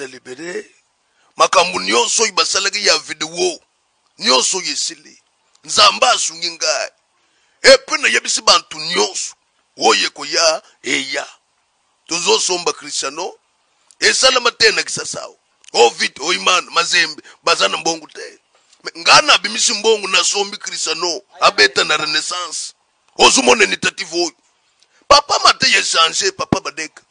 libere makambo nyonso oyo basalaki ya video nyonso oyo esili nzambe asungi ngai epe nayebisi bantu nyonso oyo ekoya eya tozosomba kristiano esalama te na kisasao ovid oh, oiman oh, mazembe baza na mbongo te ngai nabimisi mbongo nasombi kristiano abeta na renaissance ozu mona initiative oyo papa mate ye change papa badeka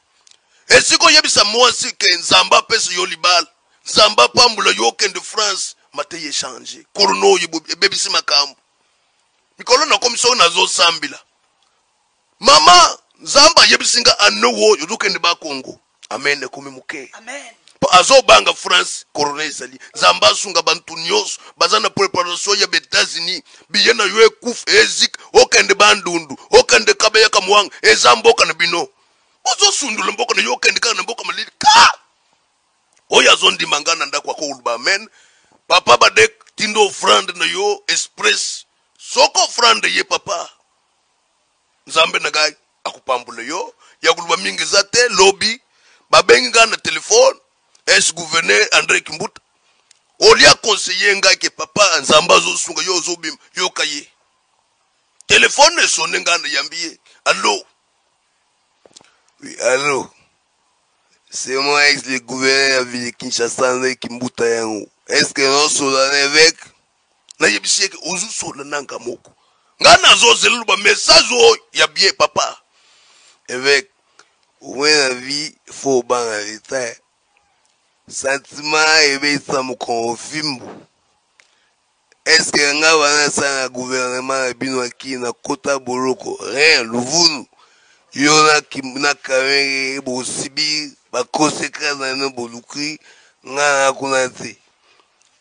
esika oyebisa mwasi ke nzambe apesa yo libala nzambe apambola yo okende france mate ye change korona oyo ebebisi makambo mikolo nakomi soki nazosambela mama nzambe ayebisi nga ane oyo ozokende bakongo amen ekomi moke po azobanga france corona ezali nzambe asunga bantu nyonso baza na preparation ya baetats-unis biye na yo ekufa ezik okende bandundu okende kabeya kamwanga eza mboka na bino ozosundola mboka na yo okende kaka na mboka malili ka oyo azondima ngai na ndako akoluba amen papa badek tindo ofrande na yo express soko ofrande ye papa Nzambe na ngai akopambola yo ya koloba mingi eza te lobi babengi ngai na telefone es gouverneur Andre Kimbuta olia conseiller ngai ke papa Nzambe azosunga yo ozobima yoka ye telefone esone ngai nayambi ye allo oui allo c'est moi ex le gouverneur ya ville Kinshasa Andre Kimbuta yango est-ce que nosolola na evêque nayebisi yeke ozusola nanga moko nga nazozela luba message oyo ya bien papa eveke okomi na vie fo obanga leta sentiment ebeyisa mokongo fimbu eske nga wana asala na guvernema na bino akii na kota boloko rien luvunu yo na kamenge bosibi baconsequence na bino boluki nga na kuna te